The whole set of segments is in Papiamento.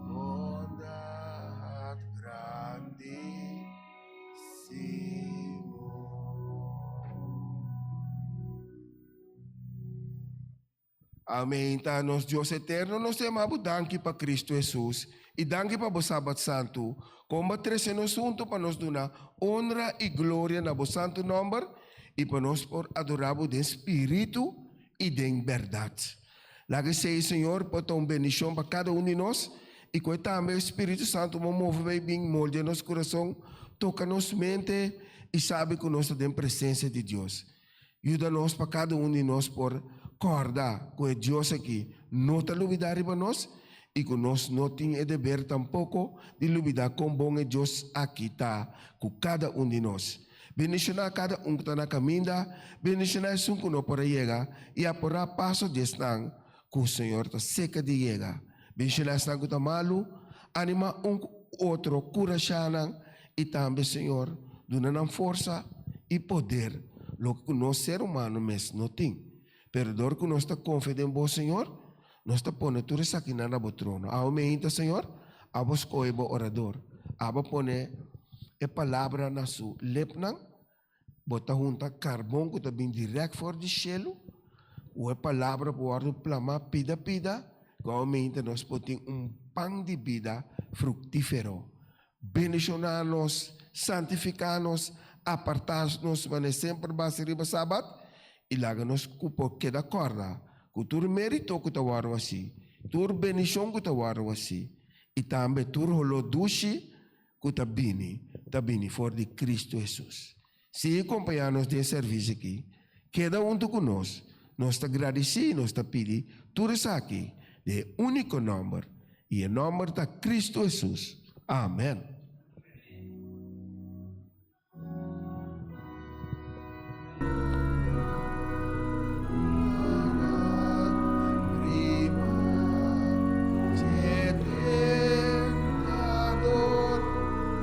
Bondad grandi Amen ta nos Dios eterno nos te amabu danki pa Cristo Jesus y danki pa bo sabat santu con ba trece nos hunto pa nos duna honra y gloria na bo santu nomber y pa nos por adorabu den spiritu y den berdad. Laga e seis Señor por ta un bendicion pa cada un di nos y cu e tambe e Spiritu Santo mo move bay bin moldea nos curason, toca nos mente y sabi cu nos ta den presencia di Dios. Yuda nos pa cada un di nos por corda cu e Dios aki no ta lubida riba nos y cu nos no tin e deber tampoco di lubida con bon e Dios aki ta cu cada un di nos. Bendishoná kada un ku ta na kaminda, bendishoná esun ku no por a yega, i aporá paso di esnan ku Señor ta serka di yega. Bendishoná esnan ku ta malu, animá un ku otro, kurashá nan, i tambe Señor duna nan forsa i poder, loke ku nos ser humano mes no tin. Pero dor ku nos ta konfia den bo, señor, nos ta pone tur esakinan na bo trono. Awe meinta, señor, abo skohe bo orador, abo pone e palabra na su lepnan, bo ta hunta karbon ku ta bin dirèk for di shelu, ku e palabra por wòrdu plamá pida pida, ku awe meinta nos por tin un pan di bida fruktífero. Bendishoná nos, santifiká nos, apartá nos manera semper basa riba Sabat, i laga nos ku por keda kòrda ku tur mérito ku ta wòrdu hasi, tur bendishon ku ta wòrdu hasi i tambe tur holó dushi ku ta bini, ta bini for di Kristu Hesus. sigui kompañá nos den e sèrvis akí. Keda huntu ku nos. Nos ta gradisí i nos ta pidi tur esaki den e úniko nòmber, i e nòmber ta Kristu Hesus. Amèn.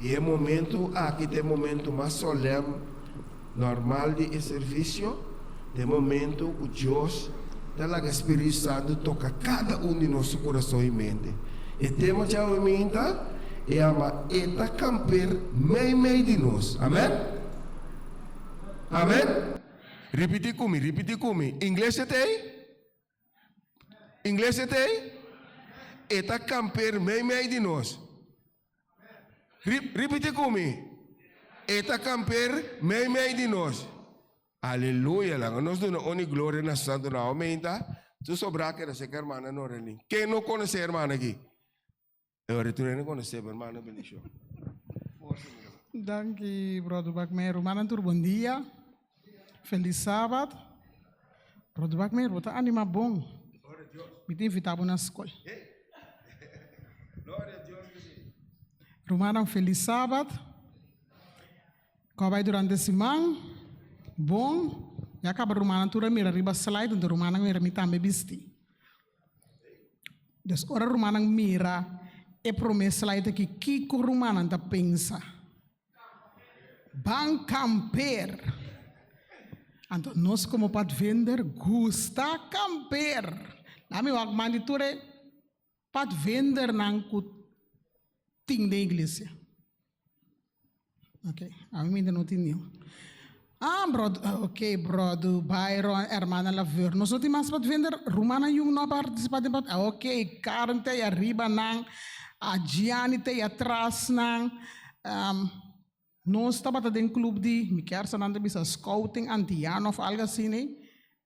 I e momentu aki ta e momentu mas solèm nòrmal di e servisio, ta e momentu ku Dios ta laga e spiritu santu toka kada un di nos su kurason i mente. E tema dja oe minta i ama e ta kamper meimei di nos. Amèn! Amèn! Ripití ku mi, ripití ku mi, Ingles e ta ei? Ingles e tei? E ta kamper mei mei di nos. Ripiti ku mi. E ta kamper mei mei di nos. Aleluya langa nos duna uni gloria na su santu nomber. Aminta, su sobra keda seka hermana Norelin. Ken no konosé hermana aki? Eu retorno en conocer, pero mano bendición. Danki, brother Bakmeer. Manan tur bon dia. Feliz Sabbat. Brother Bakmeer, bo ta anima bon. Mi ta invita bo na skol. Rumanan, feliz Sabbat. Ko bai durante siman. Bon. Ya kaba rumanan tur a mira riba slide, nto rumanan mira mi tambe bisti. Dòs, ora rumannan mira e promé slide akí, kiko rumannan ta pensa? Ban kamper! Anto nos komo padvender gusta kamper. La mi wak man di tur e padvendernan ku tin den iglesia. Ok, ami mi inda no tin niun. Ah, brod, ah, ok, brodu, Byron, hermana Laveur. Nos no tin mas pa vender, rumannan jun no a partisipá den part. Ah, ok, Karen ta ei ariba nan, a Gianni ta ei atras nan. Am, nos tabata den club di, mi kèr sa nan ta bisa scouting antiano òf algu asina ei.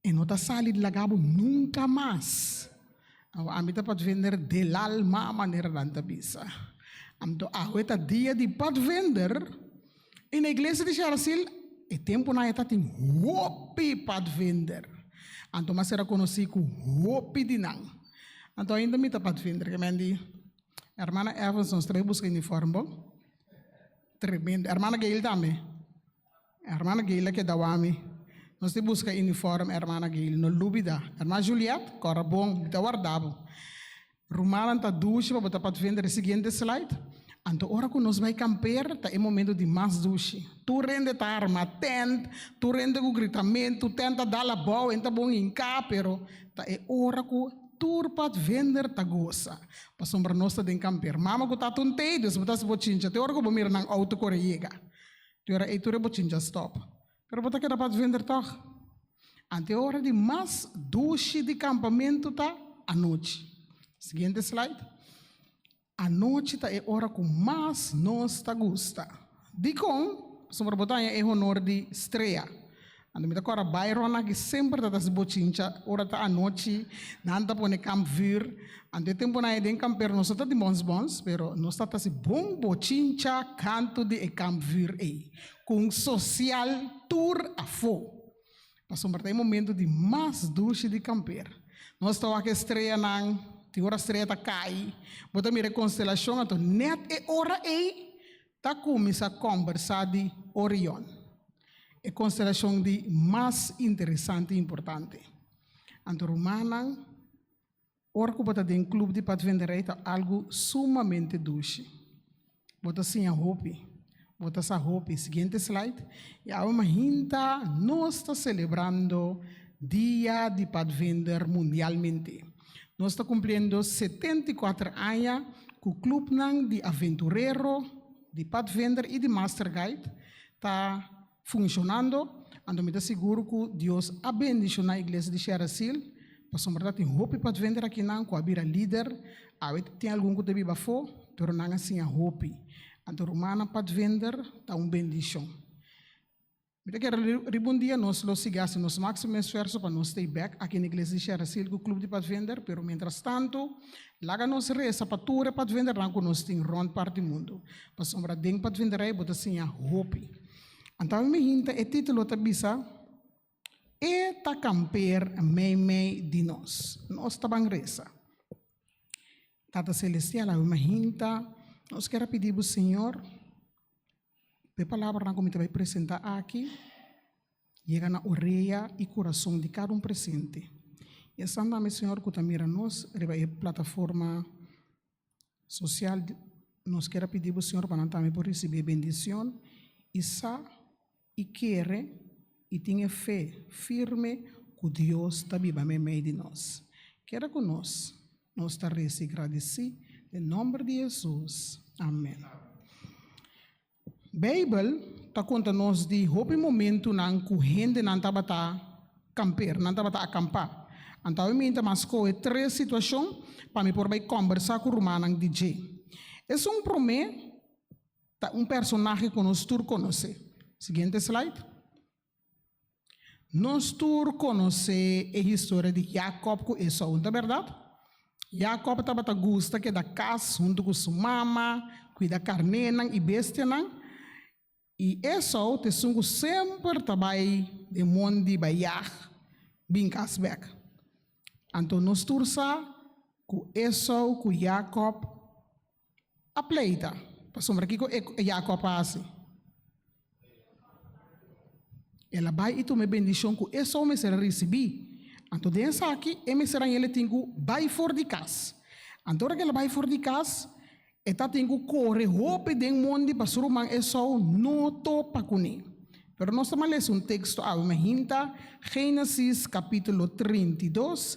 E no ta sali di laga bo nunka mas. Awe ami ta padvender del alma, manera nan ta bisa. Anto awe ta dia di padvender i na iglesia di Sharasil e tempunan ya ta tin hopi padvender. Anto mi a sera konosí ku hopi di nan. Anto ainda mi ta padvender. Kemen di Hermana Evans nos trae buska uniform bo? Tremendo. Hermana Gail tambe? Hermana Gail a keda wami. Nos di buska uniform hermana Gail. No lubida. Hermana Juliette, kora bon. Mi ta warda bo. Rumannan ta dushi pa bo ta pat vende den e siguiente slide. Anto ora ku nos bai kamper ta e momento di mas dushi. Tur hende ta arma tènt, tur hende ku gritamentu, tènt ta dal abou, hende ta bon hinká, pero ta e ora ku tur pat vender ta gosa. Pasobra nos ta den kamper. Mama ku tata un tei, dus bo ta hasi bo chincha te ora ku bo mira nan outo kore yega. Di ora ei tur e bochin dja stòp. Pero bo ta keda padvender tòg? Ante e ora di mas dushi di kampamentu ta anochi. Siguiente slide. Anochi ta e ora ku mas nos ta gusta. Dikon? Pasobra bo ta haña e honor di strea. Anto mi ta kòrda Byron aki semper ta ta si bochincha ora ta anochi nan ta pone kampvuur anto e temponan ei den kampero nos ta ta tin bons bons pero nos ta ta si bon bochincha kantu di e kampvuur ei ku un sosial tur afó pasobra ta e momento di mas dushi di kamper nos ta wak e streanan tin ora strea ta kai bo ta mira e konstelashon anto nèt e ora ei Ta cuminsa combersa di Orion, e constelacion di mas interesante y importante. Anto rumannan, ora cu bo ta den club di padvinderij ta algo sumamente dushi. Bo ta siña hopi, bo ta sa hopi. Siguiente slide. Y awe mahinta nos ta celebrando Dia di Padvinder mundialmente. Nos ta kumpliendo setenta i kuater aña ku klupnan di aventurero, di padvinder i di masterguide ta funshonando, anto mi ta sigur ku Dios a bendishoná Iglesia di Sherasil pasobra ta tin hopi padvinder akinan ku a bira lider. Awe tin algun ku ta biba afó, pero nan a siña hopi. Anto rumannan padvinder ta un bendishon. Mi ta kere riba un dia nos lo sigui hasi nos máksimo esfuerso pa no stay back aki na Iglesia di Sherasil ku Club di Padvinder, pero mientrastantu, laga nos resa pa tur e padvindernan ku nos tin rònt part di mundu, pasobra den Padvinderei bo ta siña hopi. Anto mi hinta e título ta bisa, E ta kamper meimei di nos. Nos ta ban resa, Tata Selestial, awe mi a hinta, nos kere a pidi bo, Señor, P'e palabranan ku mi ta bai presentá aki yega na orea i kurason di kada un presente. I esnan tambe, Señor, ku ta mira nos riba e plataforma sosial, nos ker a pidi Bo, Señor, pa nan tambe por risibí e bendishon i sa i kere i tin e fe firme ku Dios ta biba meimei di nos. Keda ku nos. Nos ta resi gradisí den nòmber di Hesus, amèn. Beibel ta konta nos di hopi momentunan ku hendenan tabata kamper, nan tabata akampá. Anto mi inta mas skohe tres situashon pa mi por bai kòmbersá ku rumannan di dje. Esun, Promé, ta un personahe ku nos tur konosé. Siguiente slide. Nos tur konosé e historia di Jakòb ku Esou, no ta bèrdat? Jakòb tabata gusta keda kas huntu ku su mama, kuida karnénan i bestianan, i Esou ta esun ku semper ta bai den mondi bai yag bin kas bèk. Anto nos tur sa ku Esou ku Jakòb A pleita, Pasobra kiko e yacu a pasi? El a bai i tuma e bendicion cu Esau mester a ricibi. Anto den esaki e mester Rañel a tin cu bai for di cas. Anto ora cu el a bai for di cas, e tatin cu core hopi den mondi pa su ruman Esau no topa cu ne. Pero nos ta malesa un texto awe, m'a hinta Genesis capitulo trinta i dos,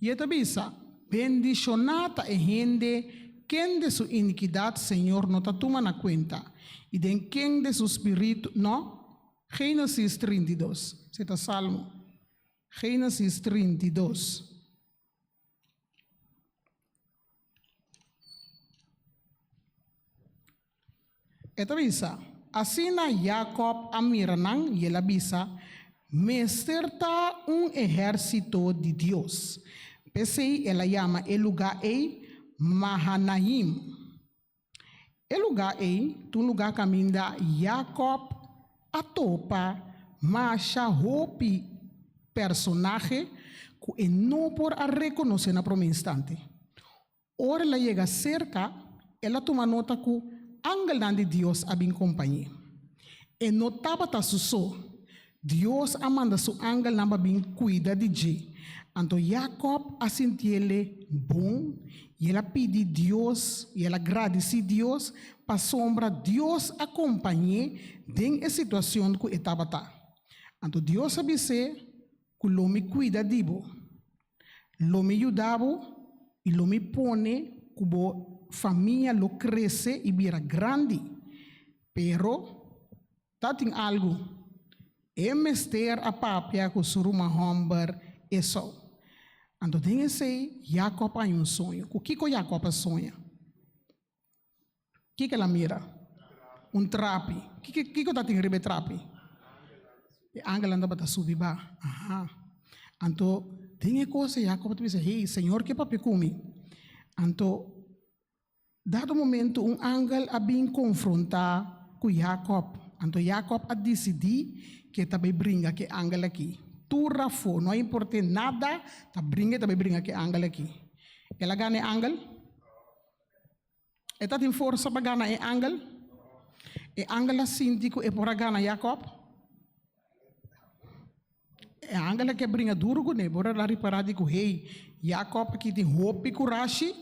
I e ta bisa, Bendishoná ta e hende kende su inikidat Señor no ta tuma na kuenta, i den kende su spiritu no. Génesis trinta i dos. Si e ta Salmo. Génesis trinta i dos. E ta bisa, Asina Jakòb a mira nan i el a bisa, Mester ta un ehérsito di Dios. P'esei el a yama e lugá ei Mahanaim. E lugá ei ta un lugá kaminda Jakòb a topa masha hopi personahe ku e no por a rekonosé na promé instante. Ora el a yega serka, el a tuma nota ku angelnan di Dios a bin kompañ'é. E no tabata su so. Dios a manda su angelnan pa bin kuida di dje. Anto Yakòb a sinti el'é bon i el a pidi Dios i el a gradisí Dios pasobra Dios a kompañ'é den e situacion ku e tabata. Anto Dios a bis'é ku lo mi kuida di bo. Lo mi yuda bo i lo mi pone ku bo famia lo krese i bira grandi. Pero, ta tin algu. E mester a papia ku su ruman hòmber Esou. Anto den esei, Yakòb a haña un soño. Ku kiko Yakòb a soña? Kiko el a mira? Un trapi. Kiko tatin riba e trapi? E angelnan tabata subi ba. Aha. Anto den e kos ei Jacob a bisa, hey, Señor ke papia ku mi. Anto dado momento un angel a bin konfrontá ku Jacob. Anto Jacob a disidí ku e ta bai bringa ku e angel aki tur afó, no a import'é nada, ta bringa i ta bai bringa ku e angel aki. El a gana e angel? E ta tin forsa pa gana e angel. E angel a sinti ku e por a gana Yakòb. E angel a ke bringa duru kuné, por el a ripará di ku hey, Yakòb aki tin hopi kurashi.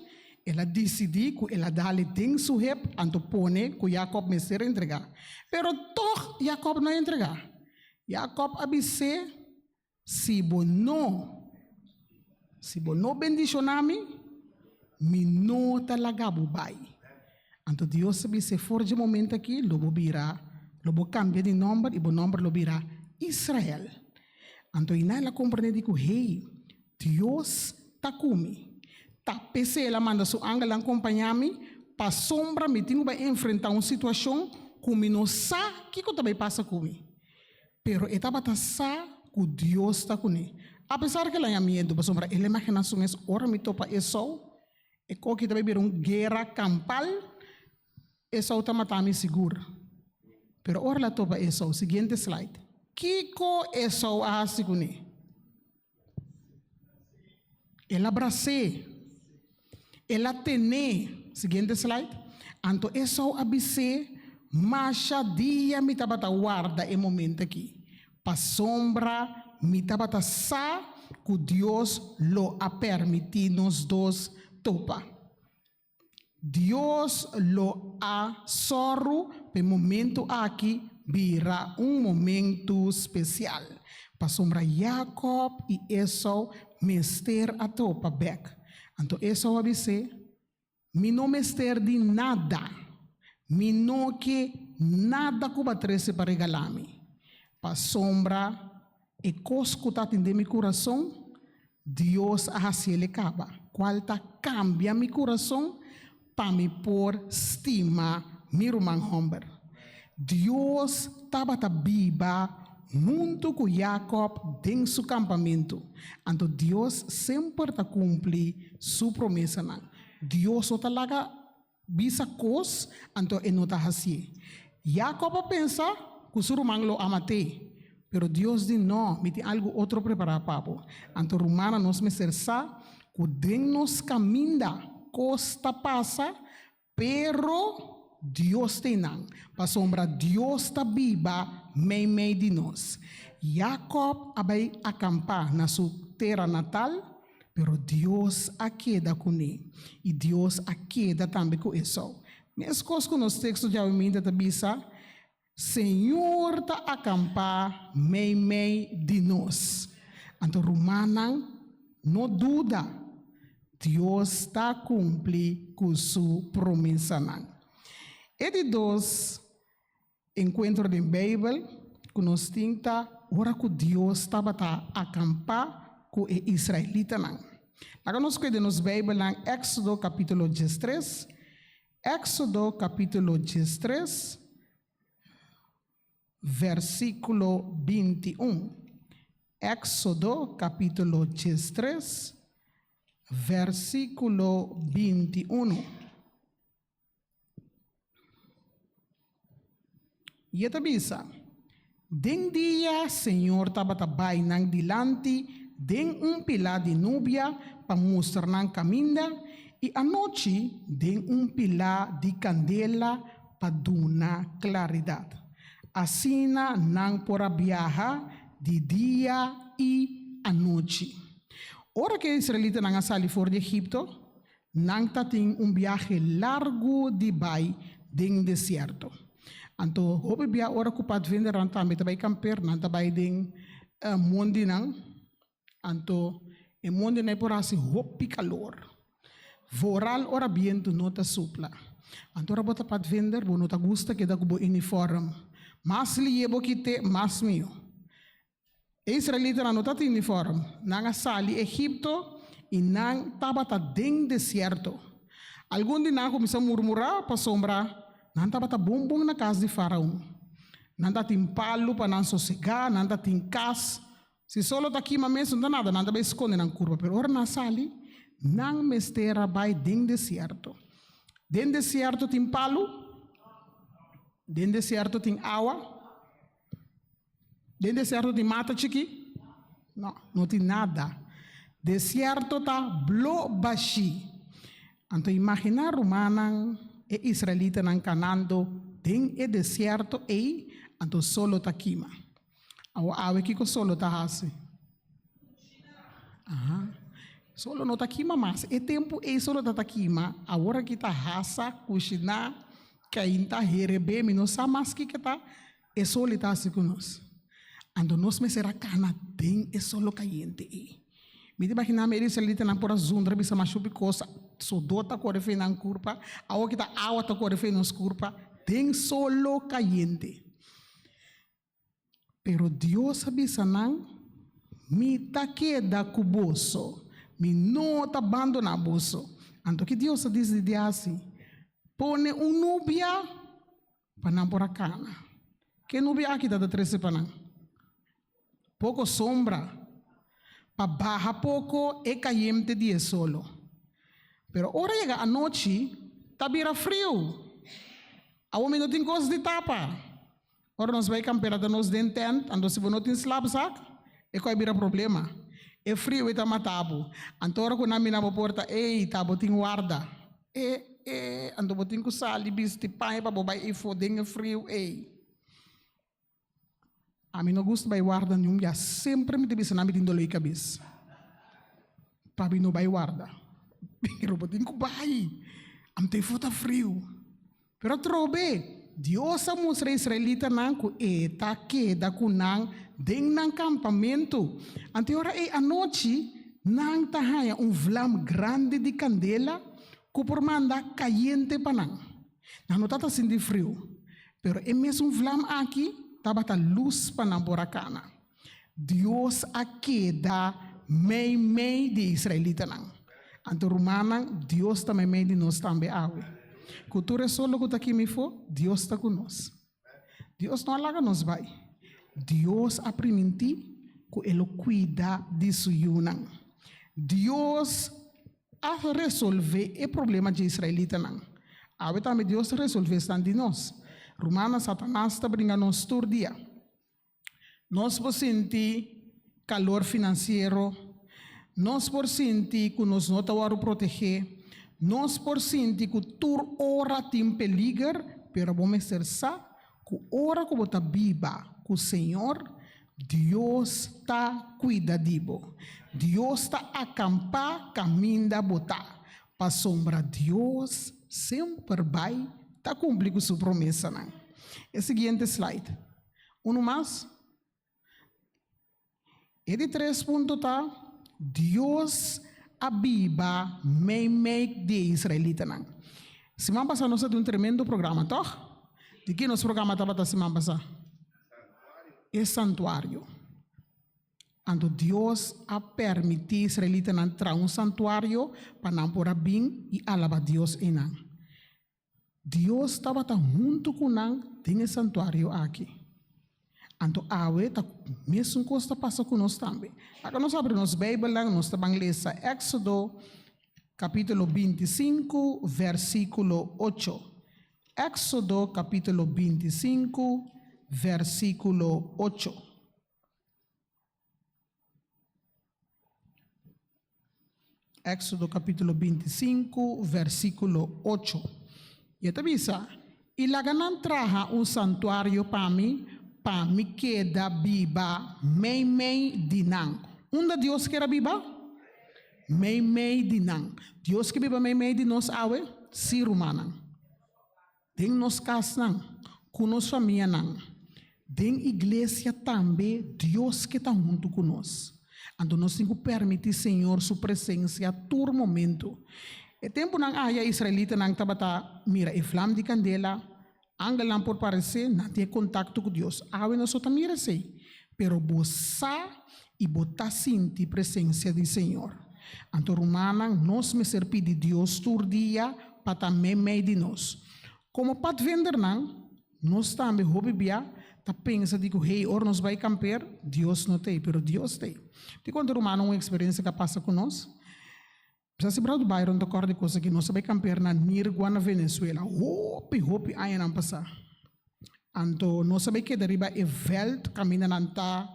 El a disidí ku el a dale den su hep anto pone ku Yakòb mester entregá. Pero tòg Yakòb no a entregá. Yakòb a bis'é Si bo no si bo no bendiciona mi, mi no ta laga bo bai. Anto Dios a bis'é, For dje momento aki lo bo bira, lo bo cambia di nomber i bo nomber lo bira Israel. Anto i nan el a comprendé di cu Hey, Dios ta cu mi. Ta p'esei el a manda su angelnan compañá mi pasobra mi tin cu bai enfrentá un situacion cu mi no sa kiko ta bai pasa cu mi. Pero e tabata sa ku Dios ta kuné. Apesar ku el a haña miedu, pasobra e limagennan su mes. Ora mi topa Esau, e koki ta bai bira un guera kampal. Esau ta matá mi sigur. Pero ora el a topa Esau. Siguiente slide. Kiko Esau a hasi kuné? El a bras'é. El a tené. Siguiente slide. Anto Esau a bis'é, Masha dia mi tabata warda e momento akí, pasobra mi tabata sa ku Dios lo a permití nos dos topa. Dios lo a sòru pa e momentu aki bira un momentu spesial, pasobra Jakòb i Esou mester a tropa bèk. Anto Esou a bis'é, Mi no mester di nada. Mi no ke nada ku bo a trese pa regala mi, pasobra E kos ku tatin den mi kurason, Dios a hasi el e kaba, kual ta kambia mi kurason pa mi por stima mi ruman hòmber. Dios tabata biba huntu ku Yakòb den su kampamentu, anto Dios semper ta kumpli su promesanan. Dios no ta laga Bisa kos, anto e no ta hasié. Jakòb a pensa ku su ruman lo a mat'é, pero Dios di, Nò, mi tin algu otro prepará pa bo. Anto rumannan, nos mester sa ku den nos kaminda kos ta pasa, pero Dios ta einan, pasobra Dios ta biba meimei di nos. Jakòb a bai akampá na su tera natal. Pero Dios a keda ku Né, i Dios a keda tambe ku Esau. Meskos ku nos teksto djaweminta ta bisa, Señor ta akampá meimei di nos. Anto rumannan, no duda, Dios ta kumpli ku Su promesanan. E di dos. Encuentro den Bijbel cu nos tin ta ora cu Dios tabata acampa cu e israelitanan. Laga nos cueda nos Bijbelnan Exodo capitulo diestres. Exodo capitulo diestres, versiculo binti un. Exodo capitulo diestres, versiculo binti uno. Y e ta bisa, Den dia Señor tabata bai nan dilanti den un pilá di nubia pa mustra nan caminda, y anochi den un pilá di candela pa duna claridad. Asina nan por a biaha di dia y anochi. Ora cu e israelitanan a sali for di Egipto, Nan ta tin un biahe largu di bai den desierto. Anto hopi bia ora cu padvindernan tambe ta bai camper, nan ta bai den mondinan. Anto e mondinan e por haci hopi calor. Vooral ora bientu no ta supla. Anto ora bo ta padvinder, bo no ta gusta keda cu bo uniform mas lie bo kite, mas miho. E israelitanan no tatin unifòrm. Nan a sali Egipto i nan tabata den desierto. Algun di nan a kuminsá murmurá pasobra nan tabata bon bon na kas di Faraon. Nan tatin palu pa nan sosegá, nan tatin kas. Si sol lo ta kima mes no ta nada, nan ta bai skonde nan kurpa. Pero ora nan sali, nan mester a bai den desierto. Den desierto tin palu? Den desierto tin awa? Den desierto tin mata chiki? No, no tin nada. Desierto ta blo bashi. Anto imagina rumannan, e israelitanan canando den e desierto ei, anto sol lo ta kima. Awa awe kico sol lo ta haci? Aha, sol lo no ta kima mas. E tempo ei sol lo ta ta kima, awor aki ta hasa, cushina, Cain ta herebé, mi no sa mas kiko ta e soli ta hasi cu nos. Anto nos mester a cana den e solo cayente ei. Mi ta imagina mi e israelitanan por a zundra bisa mas shupi cosa, sudor ta cori fei nan curpa, awo ki ta awa ta cori fei nos curpa den solo cayente. Pero Dios a bisa nan, Mi ta keda ku boso, mi no ta bandoná boso. Anto ki Dios a disidí hasi? Pone un nubia pa nan por a kana. Ke nubia aki ta ta trese pa nan? Poko sombra pa baha poko e kayemte di e solo. Pero ora yega anochi, ta bira friu. Awor mi no tin kos di tapa. Ora nos bai kampera ta nos den tènt, anto si bo no tin slapzak, e kò a bira problema. E frio ei ta mata bo. Anto ora ku nan mina bo por ta ei, ta bo tin warda. E, e, anto bo tin ku sali bisti paña pa bo bai efo den e frio ei. Ami no gusta bai warda niun bia. Semper mi ta bisa nan mi tin doloi kabes. Pabi no bai warda. Pero bo tin ku bai, anto efo ta frio. Pero trobe, Dios a mustra israelitanan cu e ta keda cu nan den nan campamento. Anto ora ei anochi nan ta haña un vlam grandi di candela cu por manda cayente pa nan. Nan no ta ta sinti friu, pero e mesun vlam aki tabata luz pa nan por a cana. Dios a keda meimei di e israelitanan. Anto, rumannan, Dios ta meimei di nos tambe awe. Ku tur e soldo ku ta aki mifó, Dios ta ku nos. Dios no a laga nos bai. Dios a primintí ku e lo kuida di su yunan. Dios a resolvé e problema dje israelitanan. Awe tambe Dios ta resolvé esnan di nos. Rumannan, Satanas ta bringa nos tur dia. Nos por sinti kalor finansiero, nos por sinti ku nos no ta wòrdu protegé, nos por sinti ku tur ora tin peliger, pero bo mester sa ku ora ku bo ta biba ku Señor, Dios ta kuida di bo. Dios ta akampá kaminda bo ta, pasobra Dios semper bai ta kumpli ku su promesanan. E siguiente slide. Unu mas. E di tres punto ta, Dios a biba meimei di e israelitanan. Siman pasá nos a di un tremendo programa, tòg? Di ke nos programa tabata siman pasá? E santuario. Anto Dios a permití israelitanan traha un santuario pa nan por a bin i alabá Dios einan. Dios tabata huntu ku nan den e santuario aki. Anto awe ta mesun kos ta pasa ku nos tambe. Aka nos abri nos Beibelnan, nos ta ban lesa Èksodo kapitulo binti sinku, vèrsikulo ocho. Èksodo kapitulo binti sinku, vèrsikulo ocho. Éxodo capítulo 25, versículo 8. Y ta bisa, y laga nan traha un santuario pa mi, pa mi keda biba meimei di nan. Unda Dios keda biba? Meimei di nan. Dios ke biba meimei di nos awe? Sí, rumannan. Den nos kasnan, ku nos famianan, den iglesia tambe Dios ke ta huntu ku nos. Anto nos tin ku permití Señor su presensia tur momentu. E tempunan aya israelitanan tabata mira e flam di kandela, angelnan por paresé, nan tin e kontakto ku Dios. Awe nos no ta mira esei. Pero bo sa i bo ta sinti presensia di Señor. Anto rumannan, nos mester pidi Dios tur dia pa ta meimei di nos. Komo padvendernan, nos tambe hopi bia ta pensa di ku hei ora nos bai kamper, Dios no t'ei, pero Dios t'ei. Tin ku anto rumannan un eksperensia ku a pasa ku nos. P'esei si Brad Byron ta kòrda di kos akí, Nos a bai kampear na Nirgua na Venezuela hopi hopi añanan pasá. Anto nos a bai keda riba e vèlt kaminda nan ta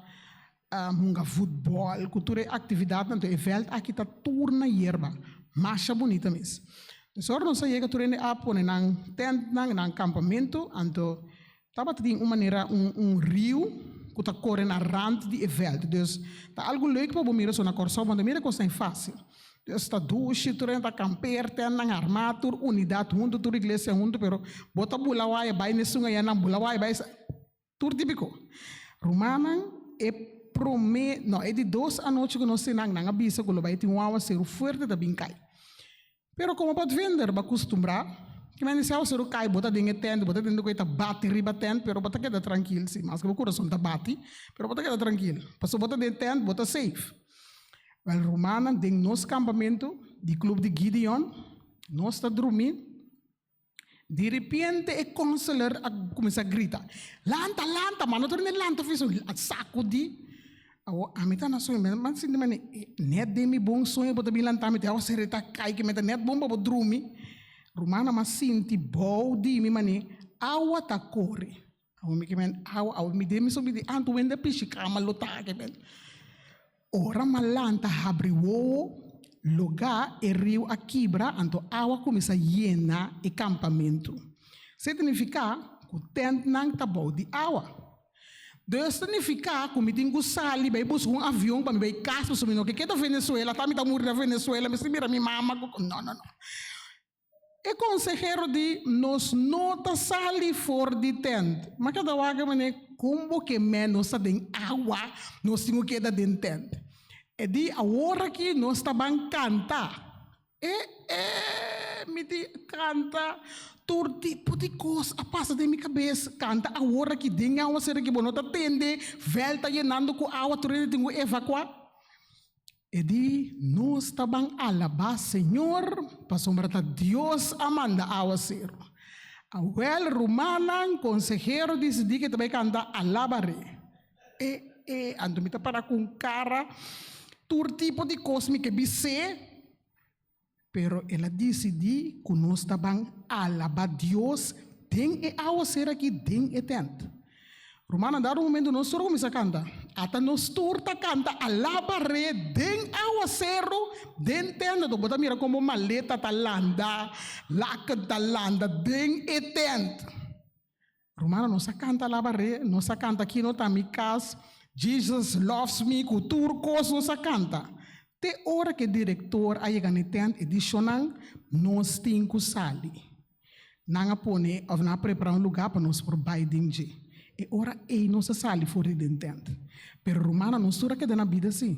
hunga futbòl ku tur e aktividatnan. Anto e vèlt akí ta tur na yerba, masha bunita mes. P'esei ora nos a yega tur hende a pone nan tèntnan, nan kampamentu. Anto Tabata tin un manera un un riu ku ta kore na rant di e vèlt. Dus ta algu lèuk pa bo mira so na Kòrsou pabia mira kos ta e fásil. Dus ta dushi, tur hende ta kampeer, tèndanan armá, tur unidat huntu, tur iglesia huntu, pero bo ta bula waya bai nesun haya, nan bula waya bai esei, tur típiko. Rumannan, e promé, no, e di dos anochi ku nos tin nan, nan a bisa ku lo bai tin wawa seru fuerte ta bin kai. Pero como pa vender bo custumbrá ki mende si awor kai bo ta den e tent bo ta tende cu e ta bati riba tent pero bo ta keda trankil si mas ke bo curason ta bati pero bo ta keda trankil pasobra bo ta den e tent bo ta safe. Wel rumannan den nos campamento di club di Gideon nos ta drumi Di ripiente e konselor a kuminsá grita, Lanta, lanta! Mano ta rinde lanta ofiso, a sakudí. Awo ami ta na sueño, mi ta sinti mane net den mi bon sueño bo ta bin lantá mi, te awo seri ta kai ke mi ta net bon pa bo drumi. Rumannan a sinti bou di mi mane awa ta kore. Awor mi ke mende awa, awor mi dimi so mi di anto wende pishi kama lo ta aki mende. Ora malanta habri wowo loga e riu a kibra anto awa kuminsá yena e kampamentu. Signifiká ku tèntnan ta bou di awa. Dor signifiká ku mi tin ku sali bai buska un avion pa mi bai kas pasobra mi no ke keda Venezuela, ta mi ta muri na Venezuela mi si mira mi mama ku, no no no. E konsehero di nos no ta sali for di tènt. M'a keda wak manera, kon bo ke ménos ta den awa, nos tin ku keda den tènt? E di awor aki nos ta ban kanta. E e mi di kanta? Tur tipo di kos a pasa den mi kabes. Kanta awor aki den awa sera ke bo no ta tende vèlta yenando ku awa tur e tin ku evakuá? E di nos ta ban alabá Señor, pasobra ta Dios a manda áwaseru. Awèl, rumannan, konsehero disidí ku e ta bai kanta Alaba Re. E, e, anto mi ta para ku un kara tur tipo di kos mi ke bis'é. Pero el a disidí ku nos ta ban alabá Dios den e awa ser akí, den e tènt. Rumannan, dado un momentu nos tur a kuminsá kanta. Ata nos tur ta kanta Alaba Re den awaseru, den tènt. Bo ta mira komo maleta ta landa, laken ta landa den e tènt. Rumana, nos a canta alabaré, nos a canta aquí no ta mi cas, Jesus loves me, cu tur cos nos a canta. Te ora cu e director a yega na e tent e di shownan, nos tin cu sali. Nan a pone of nan a prepara un lugar pa nos por bay den dje. E ora ey nos a sali for di den tent. Pero, rumana, nos tur a keda na bida si.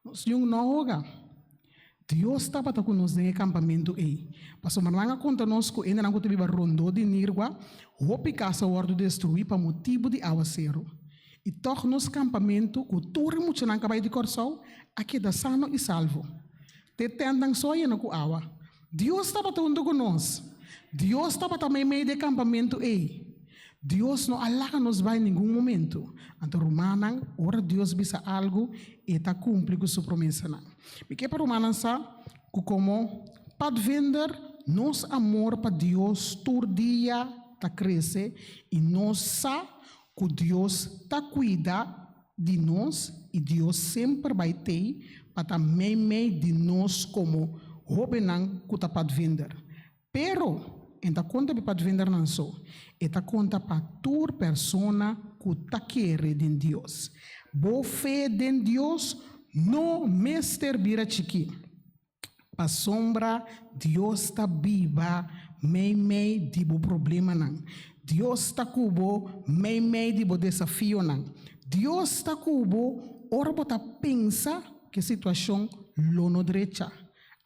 Nos Yun no a hoga. Dios tabata ku nos den e kampamentu ei. Pasobra nan a konta nos ku hendenan ku ta biba rondó di Nirgua, hopi kas a wòrdu destruí pa motibu di awaseru. I tòg nos kampamentu, ku tur e muchanan ku a bai di Kòrsou, a keda sano i salvo. Te tèntnan so a yena ku awa. Dios tabata huntu ku nos. Dios tabata meimei di e kampamentu ei. Dios no a laga nos bai ningun momentu. Anto, rumannan, ora Dios bisa algu, e ta kumpli ku su promesanan. Mi ke pa rumannan sa ku komo Pathfinder, nos amor pa Dios tur dia ta krese i nos sa ku Dios ta kuida. di nos y Dios semper bay tey pa ta mey mey di nos como hobennan cu ta padvinder. Pero, en ta conta be padvindernan so, e ta conta pa tur persona cu ta kere den Dios. Bo fe den Dios no mester bira chiki. Pasobra Dios ta biba meimei di bo problemanan. Dios ta ku bo meimei di bo desafionan. Dios ta ku bo ora bo ta pensa ku e situashon lo no drecha,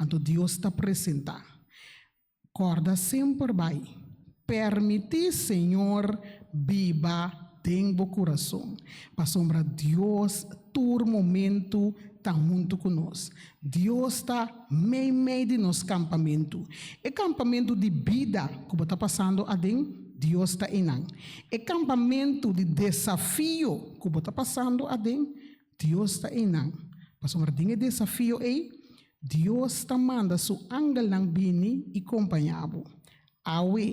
anto Dios ta presentá. Corda semper bai. Permiti Señor biba den bo curason, pasobra Dios tur momento ta huntu cu nos. Dios ta mei mei di nos campamento. E campamento di bida cu bo ta pasando aden, Dios ta einan. E campamento di desafio cu bo ta pasando aden, Dios ta einan. Pasobra den e desafio ei, Dios ta manda su angelnan bini i kompañá bo. Awe,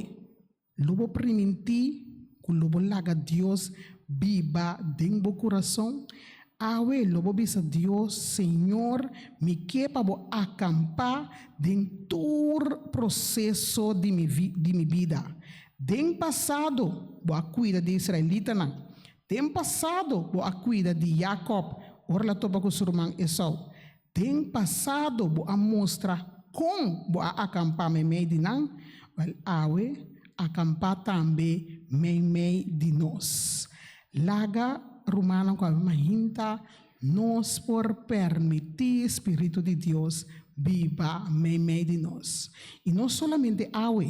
lo bo primintí ku lo bo laga Dios biba den bo kurason. Awe, lo bo bisa Dios, Señor, mi ke pa bo a kampá den tur proseso di mi bida. Den pasado, bo a kuida di e israelitanan. Den pasado bo a kuida di Jakòb ora el a topa ku su ruman Esou. Den pasado bo a mustra kon bo a akampá meimei di nan, wèl, awe akampá tambe meimei di nos. Laga rumannan ku a bin mahinta nos por permití spiritu di Dios biba meimei di nos, i no solamente awe,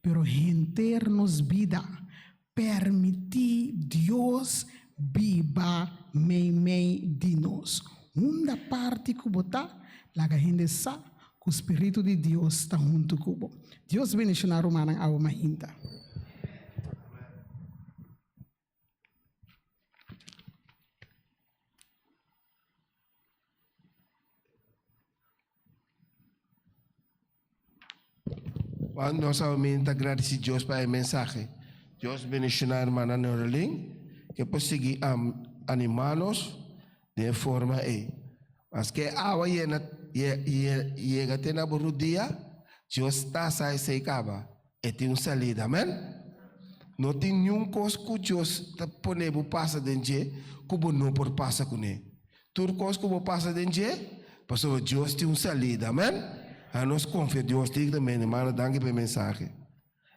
pero henter nos bida. Permití Dios biba meimei di nos. Unda parti ku bo ta, laga hende sa ku spiritu di Dios ta huntu ku bo. Dios bendishoná rumannan awe mas hinta. Juan nos a min ta agradeci Dios pa e mensaje. Dios bendicionar hermana Nerlin que por seguir am animanos de forma e. Mas que agua llena llega te na rodilla, Dios tasa e sei caba. E tin un salida, amen. No tin niun kos ku Dios ta pone bo pasa den dje ku bo no por pasa kuné. Tur kos ku bo pasa den dje, pasobra Dios tin un salida, amen. A nos konfia Dios dikta, men hermano. Danki pa e mensahe.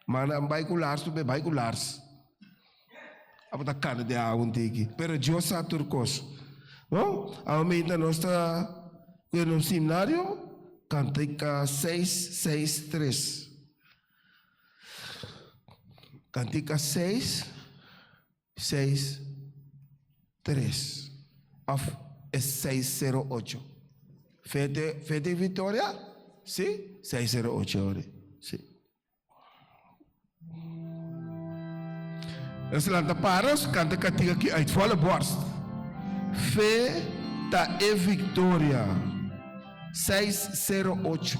Manda a bai ku lars, lo bai ku lars. Abo ta cana di awa un tiki. Pero Dios sa tur cos. No? Abo mientras nos ta cuya nos simnario, cantica 663. Cantica 663. Of es 608. Fete, fete victoria? Si, 608 ori. Si. Nos a lanta para, nos a kanta e kantika aki uit volle borst. Fe ta e viktoria, seis sero ocho.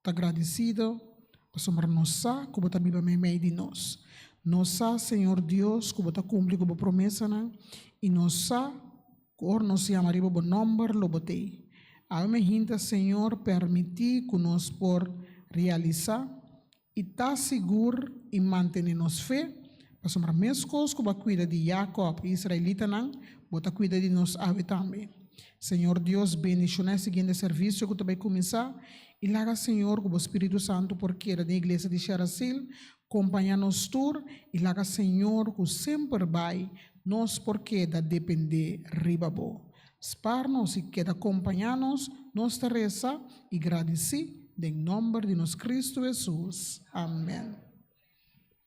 ta gradisido pasobra nos sa ku bo ta biba meimei di nos. Nos sa, Señor Dios, ku bo ta kumpli ku bo promesanan, i nos sa ku ora nos yama riba bo nòmber lo bo tei. Awe mi a hinta, Señor, permití ku nos por realisá i ta sigur i mantené nos fe, Pasobra meskos ku bo a kuida di Yakòb, e israelitanan, bo ta kuida di nos awe tambe. Señor Dios, bendishoná e siguiente servisio ku ta bai kuminsá, i laga, Señor, ku bo spiritu santu por keda den iglesia di Sherasil, kompañá nos tur, i laga, Señor, ku semper bai nos por keda dependé riba bo. Spar nos i keda kompañá nos, nos ta resa i gradisí den nòmber di nos Kristu Hesus. Amèn.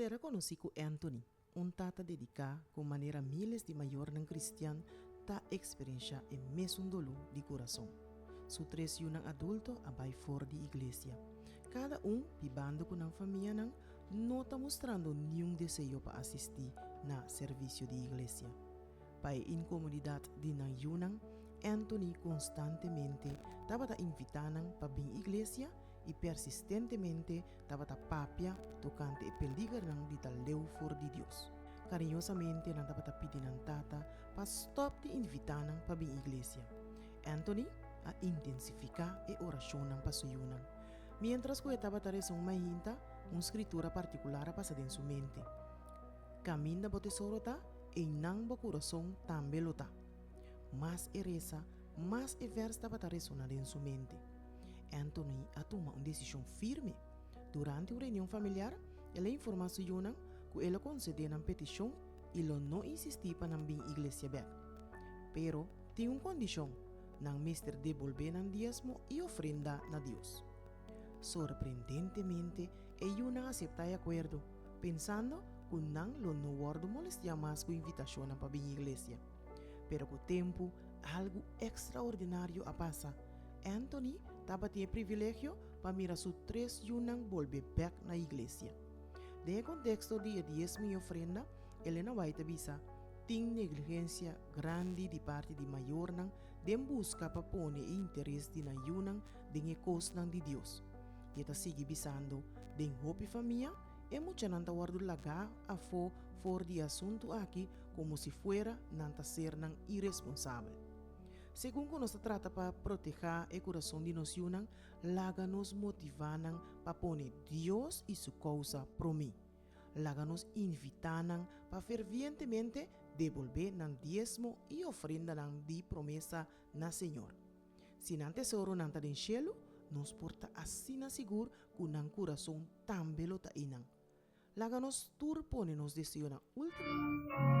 Sera konosí ku Anthony, un tata dediká ku manera míles di mayornan kristian ta eksperenshá e mesun doló di kurason. Su tres yunan adulto a bai for di iglesia. Kada un, bibando ku nan famianan, no ta mustrando niun deseo pa asistí na servisio di iglesia. Pa e inkomodidat di nan yunan, Anthony konstantemente tabata invitá nan pa bin iglesia i persistentemente tabata papia tokante e peligernan di ta leu for di Dios. Kariñosamente nan tabata pidi nan tata pa stòp di invitá nan pa bin iglesia. Anthony a intensifiká e orashonnan pa su yunan. Miéntras ku e tabata resa un mainta, un skritura partikular a pasa den su mente, Kaminda bo tesoro ta, einan bo kurason tambe lo ta. Mas e resa, mas e vèrs tabata resoná den su mente. Anthony a tuma un desishon firme. Durante un reunion familiar, el a informá su yunan ku el lo konsedé nan petishon i lo no insistí pa nan bin iglesia bèk. Pero, tin un kondishon, Nan mester debolbé nan diezmo i ofrenda na Dios. Sorprendentemente, e yunan a aseptá e akuerdo, pensando ku nan lo no wòrdu molestiá mas ku invitashonnan pa bin iglesia. Pero ku tempu, algu ekstraordinario a pasa. Anthony tabatin e privilegio pa mira su tres yunan bolbe bèk na iglesia. Den e konteksto di e diezmo i ofrenda, Elena White a bisa, Tin negligencia grandi di parti di mayornan den busca pa pone e interes di nan yunan den e cosnan di Dios. I e ta sigui bisando, Den hopi famia, e muchanan ta wordo lagá afó for di e asuntu aki como si fuera nan ta ser nan iresponsabel. Segun cu nos ta trata pa protehá e curason di nos yunan, laga nos motivá nan pa pone Dios i su causa promé. Laga nos invitá nan pa fervientemente debolbé nan diesmo i ofrendanan di promesa na Señor. Si nan tesoronan ta den shelu, nos por ta asina sigur ku nan kurason tambe lo ta einan. Laga nos tur pone nos deseonan último.